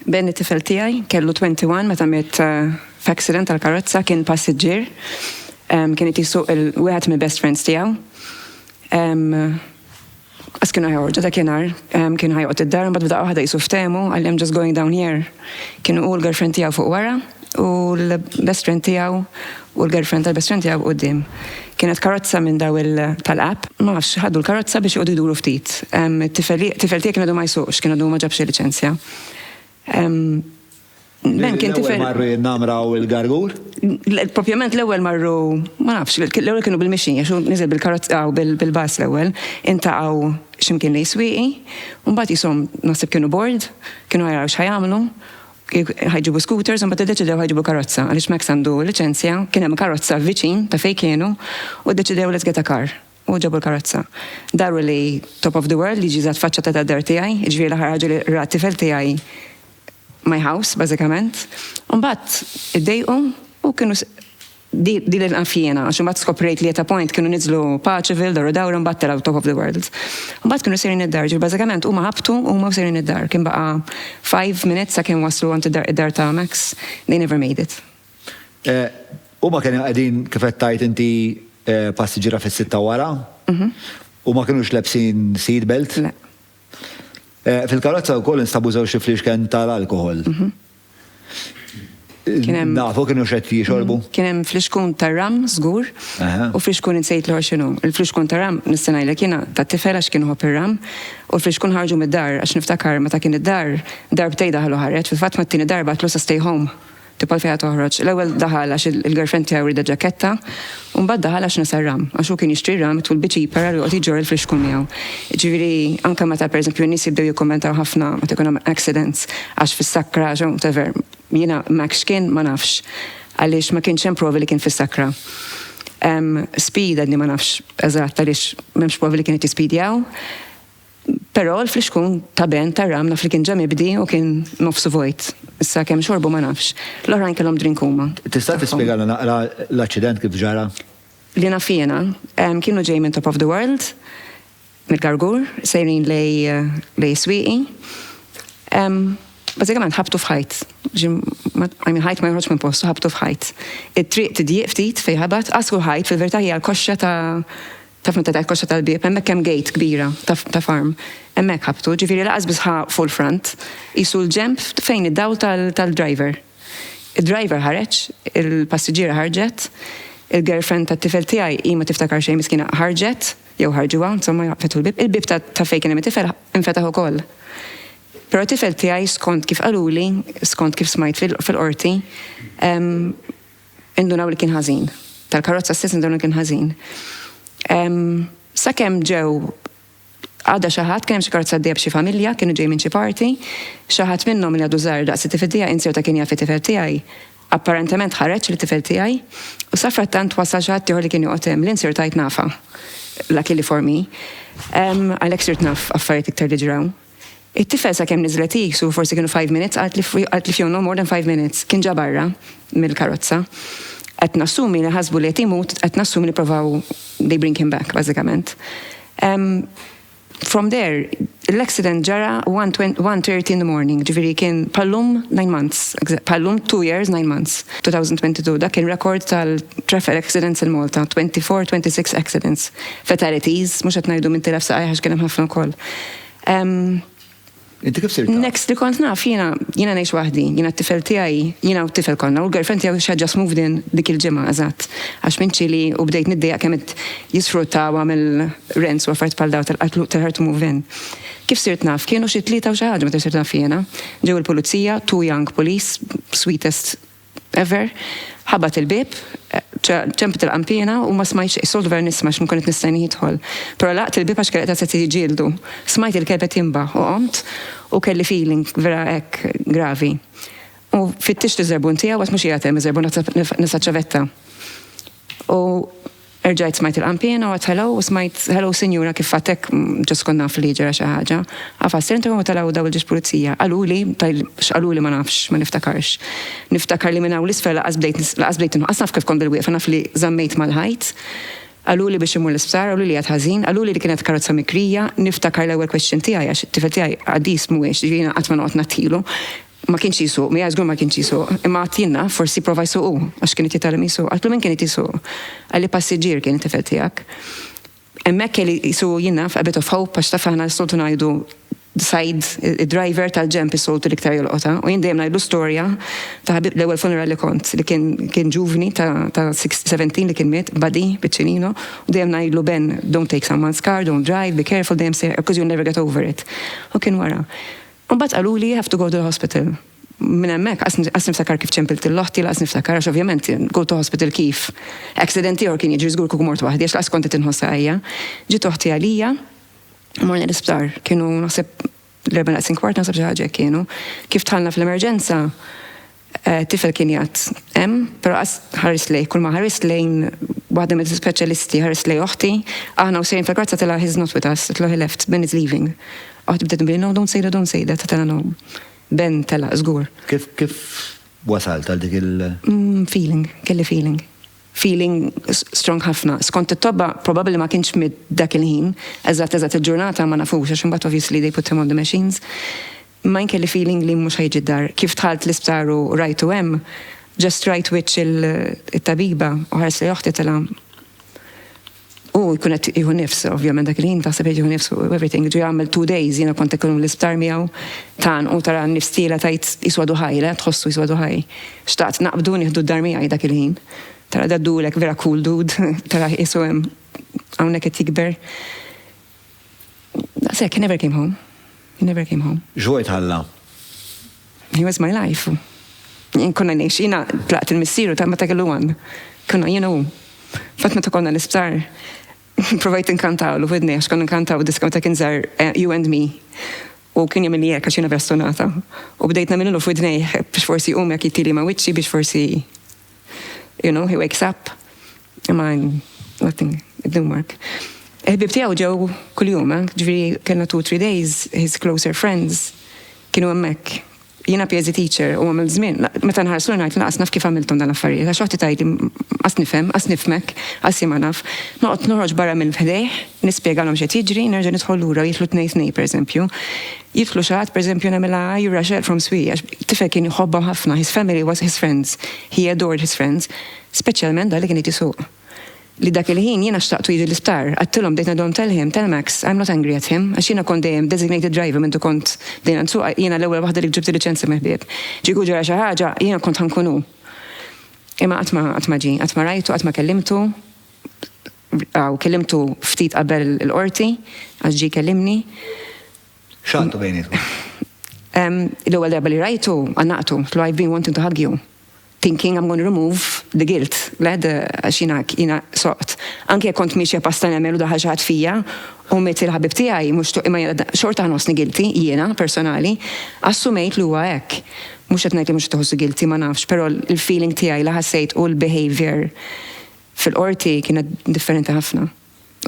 Ben it-tifel tiegħi, kellu 21 meta miet f'accident tal-karozza, kien passiġġier, kien qed jisuq il-wieħed mill-best friends tiegħu. Għas kienu ħajħorġu dak jenar, kien ħajqot id-dar, mbagħad b'daqqa waħda jisu ftehmu għal-jem just going down here. Kienu u l-girlfriend tiegħu fuq wara. u l-best friend tiegħu u l-girlfriend tal-best friend tiegħu quddiem. Kienet karozza minn daw il tal-app, ma nafx ħadu l-karozza biex joqogħdu jduru ftit. Tifel tiegħi kien għadu ma jsuqx, kien għadu ma ġabx il-liċenzja. Ben kien tifel. L-ewwel marru in-Namra u l-Gargur? Propjament l-ewwel marru, ma nafx, l-ewwel kienu bil-mixi, għax hu niżel bil-karozza u bil-bus l-ewwel, intaqgħu x'imkien lejn Swieqi, u mbagħad qishom naħseb kienu bored, kienu qed jaraw x'ħa jagħmlu, Kif ħa jġibu scooters imbagħad iddeċidew ħa jġibu karozza għaliex Max għandu liċenzja, kien hemm karozza viċin ta' fejn kienu u ddeċidew let's get a car u ġabu l-karozza. Daru li top of the world jiġi jżatt faċċata tad-dar tiegħi, jiġifieri l-aħħar ħaġa li ra t-tifel tiegħi my house bażikament. Imbagħad iddejqu u kienu Din li naf jiena, għax imbagħad skoprejt li at a point kienu niżlu Paceville, Doru Dawra mbagħad telgħu Top of the World. Mbagħad kienu sejrin id-dar, ġifieri bażikament huma ħabtu u huma sejrin id-dar. Kien baqa' five minutes sakemm waslu għand id-dar ta' Max, they never made it. Huma kienu qegħdin kif qed tgħid inti passiġġiera fis-sitta wara u ma kinux lebsin seat belt. Le. Fil-karozza wkoll instabu żewġt ifriexken tal-alkoħol. Nafu kienu xed jixorbu? Mm, kien hemm flixkun tar-ram żgur u flixkun insejt l xinu. Il-flixkun tar-ram nistenajlek jiena ta' tifel għax kien ħobb ir-ram u l-flixkun ħarġu mid-dar għax niftakar meta kien id-dar darbtej daħlu ħareġ fil-fatt mat-tieni darba tlu sa stay home tipal fejha toħroġ. L-ewwel daħal għax il-girlfriend tiegħu rida ġaketta U mbagħad daħal għax nesa r-ram, għax hu kien jixtri r-ram it-tul bi ċipar għal joqgħod iġorr il-frixku miegħu. Jiġifieri anke meta pereżempju n-nies jibdew jikkummentaw ħafna meta jkun hemm accidents għax fis-sakra jew whatever, jiena m'hekk x'kien ma nafx. Għaliex ma kienx hemm provi li kien fis-sakra. Hemm speed għadni ma nafx eżatt għaliex m'hemmx provi li kien qed jispidjaw. Però l-flixkun ta' ben tar-ram naf li kien ġa mibdi u kien nofsu vojt. Issa kemm xorbu ma nafx. L-oħrajn kellhom drink huma. Tista' tispjegalna naqra l-aċċident kif ġara? Li naf jiena, kienu ġej minn Top of the World, mill-Gargur, sejrin lejn is-Swieqi. Bażikament ħabtu f'ħajt. I mean ħajt ma joħroġx minn postu, ħabtu f'ħajt. It-triq tidjieq ftit fejn ħabat, għasru l-ħajt, fil-verità hija l-koxxa ta' Taf meta tgħid koxxa tal-bieb, hemmhekk hemm gate kbira ta' farm. Hemmhekk ħabbtu, ġifieri lanqas biss ħa full front, qisu l-ġenb fejn id-dawl tal-driver. Id-driver ħareġ, il-passiġġiera ħarġet, il-girlfriend tat-tifel tiegħi, hi ma tiftakar xejn miskina, ħarġet, jew ħarġuha, insomma fetħu l-bieb, il-bieb ta' fejn kien hemm it-tifel infetaħ ukoll. Però t-tifel tiegħi skont kif qaluli, skont kif smajt fil-Qorti, Indunaw li kien ħażin. Tal-karozza stess indunaw li kien ħażin. Sakemm ġew għadha xi ħadd, kien hemm xi karozza għaddejja b'xi familja, kienu ġejjin minn xi party, xi ħadd minnhom li għadu żgħir daqs it-tifel tiegħi insew ta' kien jaf it-tifel tiegħi. Apparentement ħareġ lit-tifel tiegħi u safrattant wasal xi ħadd ieħor li kien joqgħod hemm, li nsirt għidt nafha. Luckily for me. Għalhekk sirt naf affarijiet iktar li ġraw. It-tifel sakemm niżlet hi, su forsi kienu five minutes, qalt li qalt li fihom no more than five minutes, kien ġa barra mill-karozza. Qed nassumi li ħasbu li qed imut, qed nassumi li provaw they bring him back bażikament. Ehm, From there, l-accident ġara one twen- one thirty in the morning, ġifieri kien bħal-lum nine months, exa- bħal-lum two years nine months, 2022. Dak kien record tal-traffic accidents in Malta, 24, 26 accidents. Fatalities, mhux qed ngħidu minn tilef saqajh għax kien hemm ħafna wkoll. Inti kif sirta? Next li kont naf, jina, jina nejx wahdi, jina t-tifel tijaj, jina u t-tifel konna, u l-girlfriend tijaj xa just moved in dik il-ġimma, eżat. Għax minn ċili u bdejt niddejja kemet jisfrutta għam il-rents u għaffart pal daw tal-qatlu tal-hard to move in. Kif sirt naf, kienu xie tlieta u xaħġa ma t-sirt naf jena. Ġew il-pulizija, too young police, sweetest Ever, ħabat il-bieb, ġenb il-qanpiena u ma smajtx xejn, soltu vera nisma' għax nkun qed nistennih jidħol. Però laqgħet il-bieb għax kelli qed jiġġieldu. Smajt il-kelb qed jinbaħ u qomt u kelli feeling vera hekk gravi. U fittixt iż-żerbun tiegħu għad mhux qiegħed hemm iż-żerbun għad nefqa' ċ-ċavetta. U Erġajt smajt il-qanpiena u għedt hello u smajt hello sinjura kif għedt hekk just kont naf li ġara xi ħaġa. Għafast ser integħu ma telgħu daw il-ġiex pulizija. Qaluli, x'qaluli ma nafx, ma niftakarx. Niftakar li minn hawn 'l isfel lanqas bdejt lanqas bdejt lanqas naf kif kont bil wieqfa naf li żammejt mal-ħajt. Qaluli biex immur l-isptar, qaluli li qgħedt ħażin, qaluli li kienet karozza mikrija, niftakar l-ewwel question tiegħi għax it-tifel tiegħi qaddis mhuwiex, jiġifieri jiena qatt ma noqgħod ngħattilu, Ma kienx jisuq, mija żgur ma kienx jisuq, imma għad jien naf, forsi jipprova jsuq hu, għax kien qed jitgħallem jisuq. Għidtlu min kien qed jisuq? Qalli passiġġier kien it-tifel tiegħek. Hemmhekk kelli jsuqu jien naf, a bit of hope, għax taf aħna s-soltu ngħidu side id-driver tal-ġenb is-soltu l-iktar jolqotha u jien dejjem ngħidlu storja ta' ħabib l-ewwel funeral li kont li kien kien ġuvni ta' ta' 17 li kien miet body biċċinino u dejjem ngħidlu Ben don't take someone's car, don't drive, be careful dejjem sejħ because you'll never get over it. U kien wara. U mbagħad qaluli you have to go to the hospital. Minn hemmhekk qas niftakar kif ċempilt lil oħti, lanqas niftakar għax ovvjament go to hospital kif? Accident ieħor kien jiġri żgur kieku mort waħdi għax lanqas kont qed inħoss għajja. Ġiet oħti għalija u morna l-isptar. Kienu naħseb l-erbgħa naqsin kwart naħseb xi ħaġa hekk kienu. Kif dħalna fl-emerġenza Tifel kien jgħadd hemm, però qas ħarist lejh. Kulma ħarist lejn waħda mill-ispeċjalisti, ħarist lejn oħti, aħna u sejrin fil-karozza tilha he's not with us, itlu he left, Ben is leaving. Oħti bdiet tnbihli no, don't say that, don't say that, għedtilha no, Ben telaq żgur. Kif, kif wasalt għal dik il-. Feeling, kelli feeling. Feeling strong ħafna. Skont it-tobba probabbli ma kienx miet dak il-ħin, eżatt eżatt il-ġurnata ma nafux għax imbagħad obviously they put him on the machines. Mine kelli feeling li mhux ħajġi d-dar. Kif dħalt l-isptar u rajtu hemm, just rajt wiċċ it-tabiba u ħarest lejn oħti tela' Hu jkun qed jieħu nifs, ovvjament dak il-ħin taħseb qed jieħu nifs u everything. Ġie għamel two days, jiena kont ikun l-isptar miegħu. Tgħannqu tara n-nifs tiela' tgħid qisu għadu ħaj, le, tħossu qisu għadu ħaj. Xtaqt naqbdu nieħdu d-dar miegħi dak il-ħin. Tara daddulek vera cool dude, tara qisu hemm hawnhekk qed jikber. Daqshekk, he never came home. He never came home. X'vojt ħalla? He was my life. Jien konna ngħix, jiena tlaqt il-missier u ta' meta kellu għan. Konna jiena u. Fatt meta konna l-isptar, provajt inkantaw l widni għax konna nkantaw diska meta kien żar eh, You and Me. U kien jagħmel jekk għax jiena vera stonata. U bdejt nagħmilu f'widnejh biex forsi jqum jekk jittili ma' wiċċi biex forsi You know, he wakes up, imma nothing, it didn't work. Il-ħbib tiegħu ġew kuljum, eh? ġifieri kellna two three days, his closer friends kienu hemmhekk. Jiena PhD teacher u għamil żmien, meta nħarsu ngħid naqas naf kif għamilthom dan l-affarijiet, għax waħdi tgħidli qas nifhem, qas nifmek, qas jien ma naf. Noqgħod noħroġ barra minn ħdejh, nispjegalhom x'qed jiġri, nerġa' nidħol lura jidħlu tnejn tnejn pereżempju. Jidħlu xi ħadd, pereżempju nagħmilha hi Rachel from Swieqiex, tifel kien jħobbhom ħafna, his family was his friends, he adored his friends, speċjalment dak li kien irid isuq. Li dak il-ħin jiena xtaqtu jiġi l-isptar, għadtilhom bdejt ngħidilhom tell him, tell Max, I'm not angry at him, għax jiena kont dejjem designated driver mendu kont bdejna nsuq, jiena l-ewwel waħda li ġibt il-liċenzja mill-ħbieb. Kieku ġara xi ħaġa, jiena kont ħa nkun hu. Imma qatt ma qatt ma ġie, qatt ma rajtu, qatt ma kellimtu. Aw, kellimtu ftit qabel il-Qorti, għax ġie jkellimni. X'għadtu bejnietkom? L-ewwel darba li rajtu, għannaqtu, għedtlu I've been wanting to hug you, thinking I'm gonna remove the guilt, le, għax jiena, jiena soqt. Anke jekk kont miexja pass ta' nemel u daħal xi ħadd fija, u miet il-ħabib tiegħi, mhux xtaqt, imma jiena xorta nħossni guilty, jiena, personali, assumejt li huwa hekk. Mhux qed ngħid li mhux qed iħossu guilty, ma nafx, però l-feeling tiegħi li ħassejt u l-behaviour Fil-Qorti kienet differenti ħafna.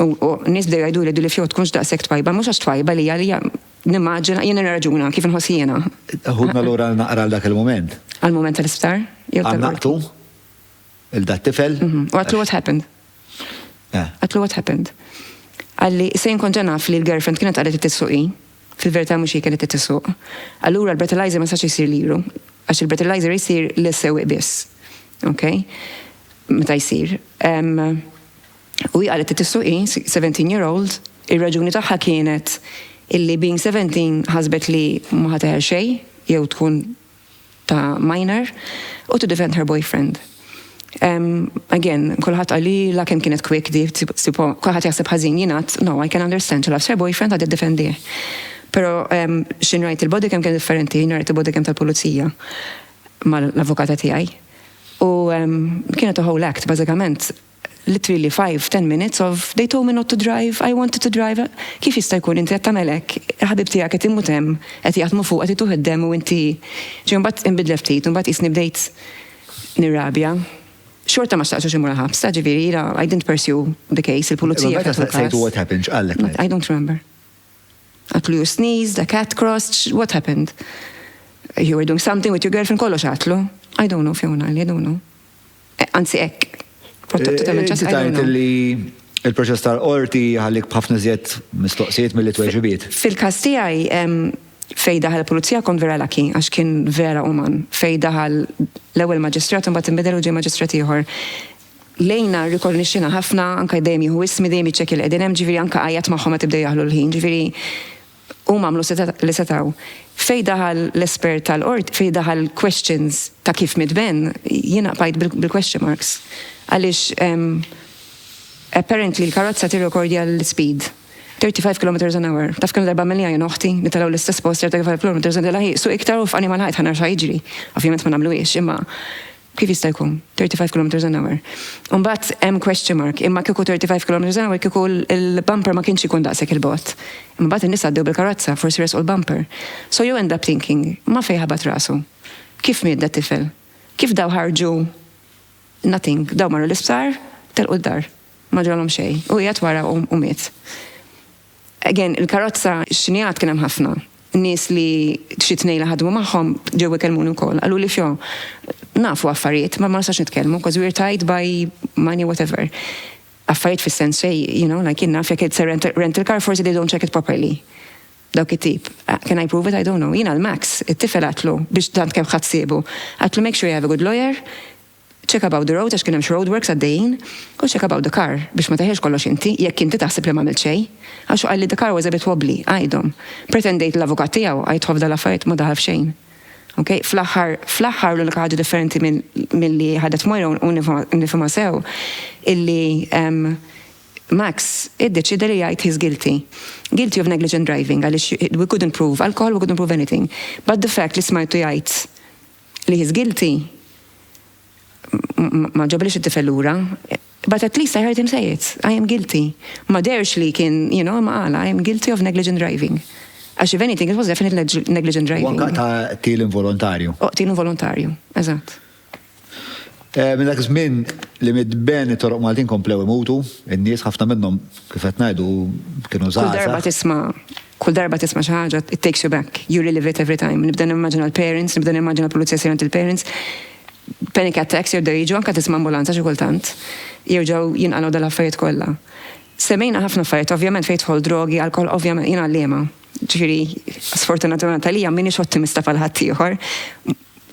U nies bdew jgħiduli dil fjoħ tkunx daqshekk twajba, mhux għax twajba li hija nimmaġina, jien nirraġuna kif inħoss jiena. Ħudna lura għal naqra għal dak il-mument. Għall-mument tal-isptar? Għannaqtu lil dat-tifel. U għedtlu what happened? Għedtlu what happened. Qalli, se jien kont ġa naf li l-girlfriend kienet qalet li trid ssuq hi, Fil-verità mhux hi kienet qed issuq. Allura l-breathalyzer ma jistax isir liru, għax il-breathalyzer jsir lis-sewwieq biss. Ok? Meta jsir. U hi qalet qed issuq hi, seventeen year old, ir-raġuni tagħha kienet illi being seventeen ħasbet li ma ħa teħel xejn jew tkun ta' minor u to defend her boyfriend. Ehm, again, kulħadd qalilha kemm kienet quick di, sipo, kulħadd jaħseb ħażin jien għadd, no, I can understand, she loves her boyfriend għad iddefendih. Però ehm, x'in rajt il-body cam kien differenti, jien rajt il-body cam tal-pulizija mal-avukata tiegħi. U ehm, kienet a whole act, bażikament, literally five, ten minutes of they told me not to drive, I wanted to drive, kif jista' jkun inti qed tagħmel hekk, il-ħabib tiegħek qed imut hemm, qed jaħdmu fuq, qed ituh id-demm u inti, ġej mbagħad inbidlet ftit u mbagħad qisni bdejt nirrabja. Xorta ma xtaqtux imur il-ħabs, ta' ġifieri jiena I didn't pursue the case, il-pulizija. Meta staqsejtu what happened, x'qallek? I don't remember. Għatlu you sneeze, the cat crossed, what happened? You were doing something with your girlfriend, kollox għatlu. I don't know, Fiona, I don't know. Eh, anzi, ek, protettu ta' menċas. Tajt li il-proċess tal-qorti għalik bħafna zjed mistoqsijiet mill-li tweġibiet. Fil-kas tijaj, fej daħal pulizija kon vera laki, għax kien vera uman, fej daħal l-ewel maġistrat un bat imbidel u ġej maġistrat ieħor. Lejna rrikornixxiena ħafna, anke dejjem jieħu ismi, dejjem jiċċekkja li qegħdin hemm, ġifieri anke għajjat magħhom meta bdew jaħlu l-ħin, ġifieri huma għamlu li setgħu. Fejn daħal l-espert tal-Qorti, fejn daħal questions ta' kif miet Ben, jiena bqajt bil-question marks. Għaliex apparently l-karozza tirrekordja l-speed, 35 kilometres an hour. Taf kemm-il darba għamilniha jien u ħti, nitalgħu l-istess post 35 kilometres u ngħidilha hi, suq iktar u waqfani mal-ħajt ħa nara x'ħa jiġri. Ovvjament ma nagħmluhiex, imma Kif jista' jkun 35 kilometres an hour? U mbagħad hemm question mark, imma kieku 35 kilometres an hour kieku l-bumper ma kienx ikun daqshekk 'il bogħod. Imma mbagħad in-nies għaddew bil-karozza, forsi resqu l-bumper. So you end up thinking, ma fejn ħabat rasu? Kif miet dat-tifel? Kif daw ħarġu? Nothing. Daw marru l-isptar, telqu d-dar. Ma ġralhom xejn. Hu qiegħed wara u miet. Again, il-karozza x'inhi għad kien hemm ħafna. Nies li xi tnejn li ħadmu magħhom ġew ikellmuni wkoll. Qaluli fjo, nafu affarijiet ma ma nistax nitkellmu because we're tied by money whatever. Affarijiet fis-sens fej, you know, like jien naf jekk it's a rental car forsi they don't check it properly. Dawk it-tip. Can I prove it? I don't know. Jiena l-Max, it-tifel għadtlu biex tant kemm ħadd siebu. Għadtlu make sure you have a good lawyer, Check about the road għax kien hemm xi roadworks għaddejjin, u check about the car biex ma teħilx kollox inti jekk inti taħseb li m'għamilt xejn. Għax hu qalli the car was a bit wobbly, għidhom. Pretendejt li l-avukat tiegħu għidtha f'dawn l-affarijiet ma daħal f'xejn. Ok, fl-aħħar, fl-aħħar l-unika ħaġa differenti minn, milli ħadet Moira u nifhimha sew, illi ehm, Max iddeċieda li jgħid he's guilty. Guilty of negligent driving għaliex we couldn't prove alcohol, we couldn't prove anything. But the fact li smajtu jgħid li he's guilty, ma ġabliex it-tifel lura, but at least I heard him say it, I am guilty. Ma deherx li kien, you know, imma qala I am guilty of negligent driving. Għax if anything it was definitely negligent driving. U anke ta' qtil involontarju. U qtil involontarju, eżatt. Minn dak iż-żmien li miet Ben it-toroq Maltin komplew imutu, in-nies ħafna minnhom kif qed ngħidu kienu żgħażagħ. Kull darba tisma'. Kull darba tisma' xi ħaġa it takes you back, you relive it every time. Nibda nimmaġina l-parents, nibda nimmaġina l-pulizija jsir għand il-parents. Panic attacks jerġgħu jiġu anke tisma' ambulanza xi kultant. Jerġgħu jinqalgħu dal-affarijiet kollha. Semmejna ħafna affarijiet ovvjament fejn jidħol drogi, alkoħol ovvjament jien għalliema. Ġifieri sfortunatament għalija m'iniex ottimista bħal ħaddieħor.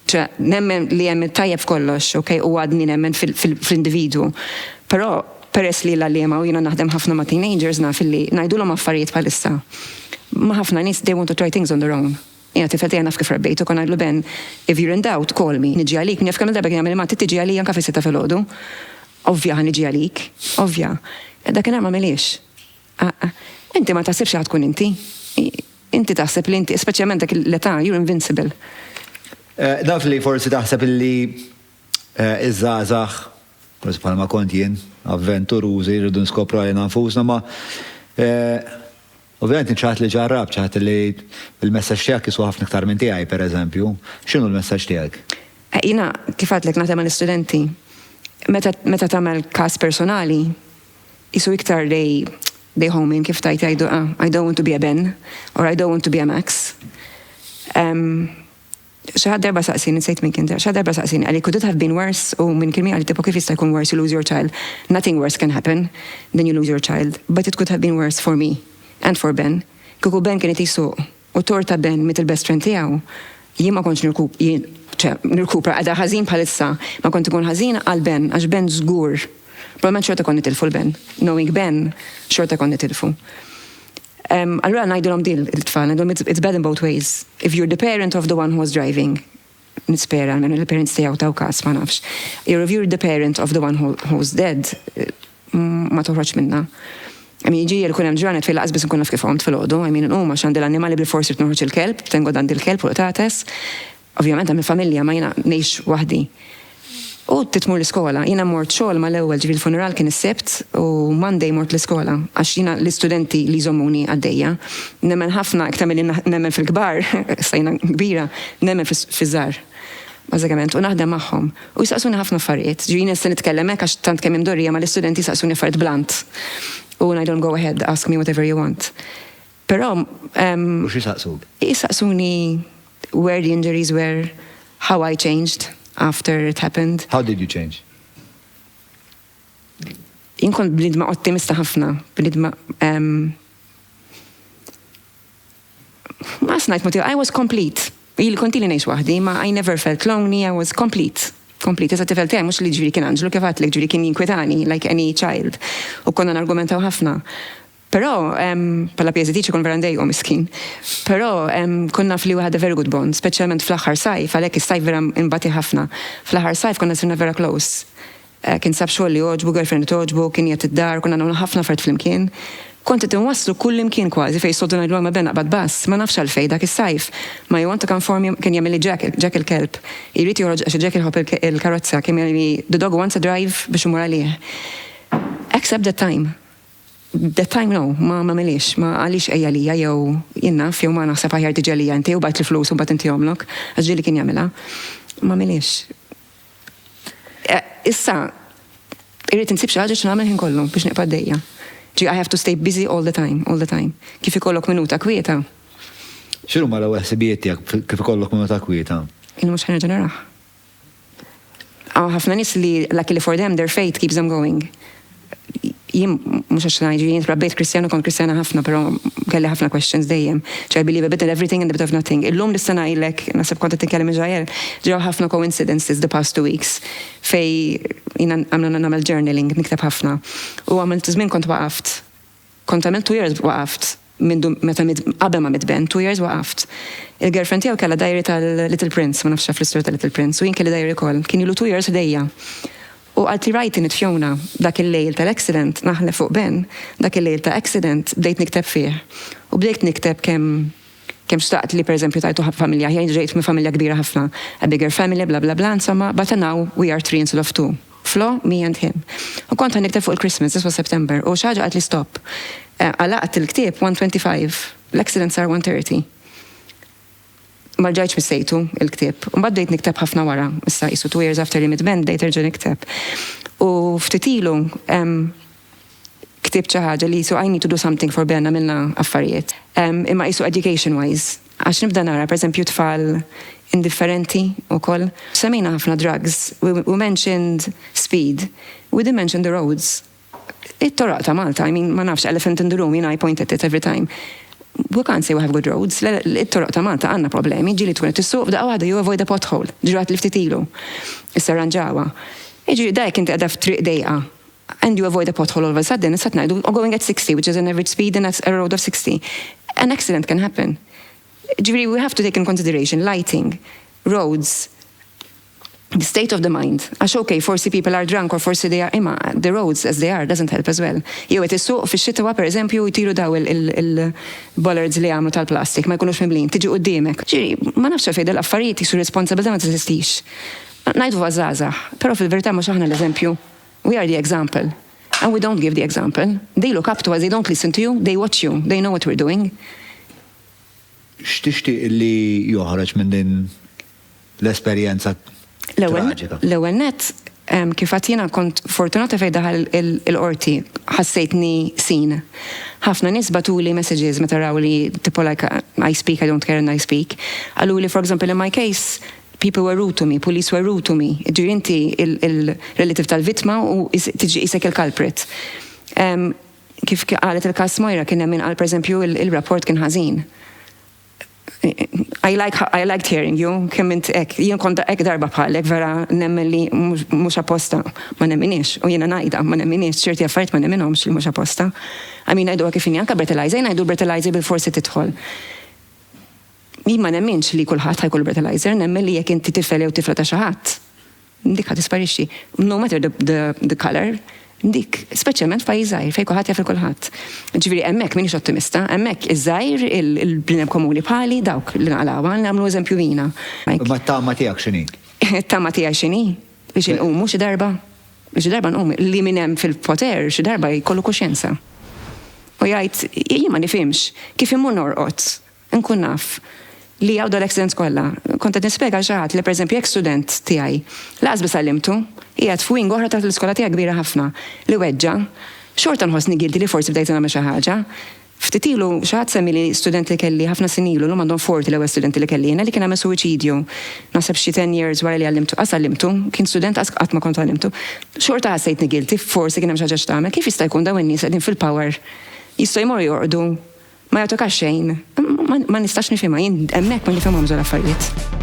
Ċe, nemmen li hemm it-tajjeb f'kollox, ok, u għadni nemmen fl-individwu. Però, peress li l-għalliema u jiena naħdem ħafna ma' teenagers naf illi ngħidulhom affarijiet bħalissa. Ma' ħafna nies they want to try things on their own. Jiena t-tifel tiegħi naf kif rabbejtu, kont ngħidlu Ben, if you're in doubt, call me, niġi għalik, min jaf kemm-il darba kien jagħmel Matti tiġi għalija anke fis-sitta filgħodu. Ovvja ħa niġi għalik. Ovvja. Dakinhar m'għamilhiex. Aqqa. Inti ma taħsibx li ħa tkun inti. Inti taħseb li inti, speċjalment dak l-età, you're invincible. Naf li forsi taħseb illi iż-żgħażagħ, forsi bħalma kont jien, avventurużi, rridu nskopru għalina nfusna, ma ovvjament int xi ħadd li ġarrabt, xi ħadd li l-messaġġ tiegħek jiswa ħafna iktar minn tiegħi, pereżempju. X'inhu l-messaġġ tiegħek? Jiena, kif għedtlek, naħdem mal-istudenti. Meta tagħmel każ personali, Qisu iktar li bejhom minn kif tgħid jgħidu ah, I don't want to be a Ben or I don't want to be a Max. Xi ħadd darba saqsini, nsejt minn kien xi darba saqsini għalik could it have been worse u minn kien għalik tipo kif jista' jkun worse you lose your child. Nothing worse can happen than you lose your child, but it could have been worse for me and for Ben. Kieku Ben kien qed jsuq U t-tort ta' Ben miet il-best friend tiegħu. Jien ma kontx nirkupra qiegħda ħażin bħalissa. Ma kont inkun ħażina għal Ben għax Ben żgur. Probabbilment xorta kont nitilfu 'l Ben. Knowing Ben, xorta kont nitilfu. Allura ngħidilhom din lill-tfal, ngħidilhom it's bad in both ways. If you're the parent of the one who was driving, Nispera, almenu li l-parents tiegħu taw każ, ma nafx. You're if you're the parent of the one who, who's dead, ma toħroġ minna. I mean, ġiel kun hemm ġranet fej laqas biss nkun naf kif għomt fil-ħodu, I mean, nqum għax għandi l-annimali bil forsi tnoħroġ il-kelb, tengod għandi l-kelb u l-qtates. Ovvjament hemm il-familja ma jiena ngħix waħdi. U trid tmur l-iskola. Jiena mort xogħol mal-ewwel, ġifieri l-funeral kien is-Sibt u Monday mort l-iskola għax jiena l-istudenti li jżommuni għaddejja. Nemmen ħafna, iktar milli nemmen fil-kbar, issa jiena kbira, nemmen fiż-żgħar, bażikament, u naħdem magħhom. U jsaqsuni ħafna affarijiet. Ġifieri jiena nista' nitkellem hekk għax tant kemm hi mdorrija ma l-istudenti jsaqsuni affarijiet blant u ngħidilhom go ahead, ask me whatever you want. Però ehm. U xi jsaqsuk? Jsaqsuni where the injuries were, how I changed after it happened. How did you change? Jien kont bniedma ottimista ħafna, bniedma ehm. Ma nafx ngħid mod ieħor, I was complete. Ili kont ili ngħix waħdi, ma I never felt lonely, I was complete. Complete, iżda t-tifel tiegħi mhux li jiġifieri kien anġlu kif għedtlek jiġifieri kien jinkwitani like any child. U konna nargumentaw ħafna. Però, bħala PSDT xi jkun vera ndejiqu miskin. Però, kont naf li hu had a very good bond, speċjalment fl-aħħar sajf, għalhekk is-sajf vera nbatieh ħafna. Fl-aħħar sajf konna sirna vera close. Kien sab xogħol li jogħġbu, girlfriend li togħġbu, kien jgħid id-dar, konna nagħmlu ħafna affarijiet flimkien. Kont qed inwasslu kullimkien kważi fejn jistgħoddu ngħidlu għalma ben aqbad bass, ma nafx għalfejn dak is-sajf, ma you want to come for me, kien jagħmilli Jack, Jack il-kelb. Jrid joħroġ għax Jack iħobb il-karozza, kien jagħmilli the dog wants a drive biex immur għalih. Except that time. That time no, ma m'għamilhiex, ma qalix ejja lija jew jien naf jew ma naħseb aħjar tiġi għalija inti u bgħid l-flus u mbagħad intihomlok, għax ġieli kien jagħmilha. M'għamilhiex. Issa irrid insib xi ħaġa x'nagħmel ħin kollu biex nibqa' għaddejja. Ġie I have to stay busy all the time, all the time. Kif ikollok minuta kwieta. X'inhuma l-ewwel ħsibijiet tiegħek kif ikollok minuta kwieta? Illi mhux ħanerġa' narah. Għaw ħafna nis li luckily for them their faith keeps them going. Jien mhux għax ngħid jien trabbejt Kristjana kont Kristjana ħafna, però kelli ħafna questions dejjem. I believe a bit in everything and a bit of nothing. Illum nista' ngħidlek, naħseb kont qed titkellem Israel, ġraw ħafna coincidences the past two weeks fej jiena għamlu nagħmel journaling, nikteb ħafna. U għamilt żmien kont waqaft Kont għamilt two years waqaft mindu meta mitt qabel ma mitt Ben two years waqaft. Il-girlfriend tiegħu kellha diary tal-Little Prince, ma nafx taf l-istorja tal-Little Prince, u jien kelli diary ukoll. Kien ilu two years f'idejja. U qaltli write in it Fiona, dak il-lejl tal-accident, naħlef fuq Ben, dak il-lejl ta' accident bdejt nikteb fih. U bdejt nikteb kemm Kemm xtaqt li pereżempju tajtu ħabta familja aħjar, jien ġejt minn familja kbira ħafna, a bigger family bla bla bla, insomma, but now we are three instead of two, Flo, me and him. U kont ħa nikteb fuq il-Christmas, this was September, u xi ħaġa qaltli stop. Għalaqt il-ktieb one twenty five, l-accident sar one thirty. Ma rġajtx missejtu, il-ktieb. Imbagħad bdejt nikteb ħafna wara, issa qisu two years after li mitt Ben bdejt nerġa' nikteb. U ftit ilu, ktibt xi ħaġa li qisu I need to do something for Ben għamilna affarijiet. Imma qisu education wise għax nibda nara per eżempju tfal indifferenti ukoll. Semmejna ħafna drugs, we we mentioned speed, we didn't mention the roads. It-toroq ta' Malta, I mean ma nafx elephant in the room, jiena I point at it every time. We can't say we have good roads, le le it-toroq ta' Malta għandna problemi, ġieli tkun qed issuq f'daqqa waħda you avoid a pothole, ġratli ftit ilu. Issa rranġawha. Jiġifieri da jekk inti qiegħda f'triq dejqa. and you avoid a pothole all of a sudden, issa qed ngħidu oh going at 60 which is an average speed and that's a road of 60. An accident can happen. Jiġifieri we have to take in consideration lighting, roads, the state of the mind. Għax ok, forsi people are drunk or forsi they are imma the roads as they are doesn't help as well. Jew qed issuq fix-xitwa pereżempju jtiru daw il-bollards li jagħmlu tal-plastik ma jkunux mimlin, tiġi quddiemek. Jiġifieri ma nafx għalfejn dawn l-affarijiet qisu r-responsabbiltà ma teżistix. Ngħiduha żgħażagħ, però fil-verità mhux aħna l-eżempju. We are the example and we don't give the example, they look up to us, they don't listen to you, they watch you, they know what we're doing. X'tixtieq li joħroġ minn din l-esperjenza traġika? L-ewwel nett kif għad jiena kont fortunata fejn daħal il-qorti ħassejtni sin. Ħafna nies batuli messages meta raw li tipo like I speak, I don't care and I speak. Qalu li for example in my case People were rude to me, police were rude to me. Jiġifieri inti il-relative tal-vittma u tiġi qisek il-culprit. Kif qalet il-każ Moira kien hemm min qal pereżempju il-rapport kien ħażin. I like I liked hearing you kemm int hekk. Jien kont hekk darba bħalek vera nemmen li mhux apposta. Ma nemminhiex u jiena ngħidha ma nemminhiex ċerti affarijiet ma nemminhomx li mhux apposta. I mean ngħiduha kif inhi anke breathalyzer jien ngħidu l-breathalyzer bilfors se tidħol. Jien ma nemminx li kulħadd ħa jkollu breathalyzer, nemmen li jekk inti tifel jew tifla ta' xi ħadd, dik ħa tisparixxi. No matter the the colour, dik, speċjalment f'pajjiż żgħir fejn kulħadd jaf lil kulħadd. Ġifieri hemmhekk m'iniex ottimista, hemmhekk iż-żgħir, il-bniedem komuni bħali, dawk li naqlgħu għal nagħmlu eżempju jiena. Imma t-tama tiegħek x'inhi? It-tama tiegħi x'inhi? Biex inqumu xi darba. Biex xi darba nqumu. Li min hemm fil-poter xi darba jkollu kuxjenza. U jgħid, jien ma nifhimx, kif immur norqod Nkun naf li hawn dawn l-accidents kollha. Kont qed nispjega għal xi ħadd li pereżempju jekk student tiegħi, lanqas biss għallimtu, qiegħed f'wing oħra taħt l-iskola tiegħi kbira ħafna, li weġġa', xorta nħossni guilty li forsi bdejt nagħmel xi ħaġa. Ftit ilu xi ħadd semmieli student li kelli ħafna snin ilu, llum għandhom 40 l-ewwel studenti li kelli jiena, li kien għamel suwiċidju. Naħseb xi ten years wara li għallimtu. Qas għallimtu, kien student qas qatt ma kont għallimtu. Xorta ħassejtni guilty, forsi kien hemm xi ħaġa x'tagħmel. Kif jista' jkun dawn in-nies qegħdin fil-power jistgħu jmorru jorqdu Ma jagħtukax xejn. Ma nistax nifhimha, jien hemmhekk ma nifhimhomx dawn l-affarijiet.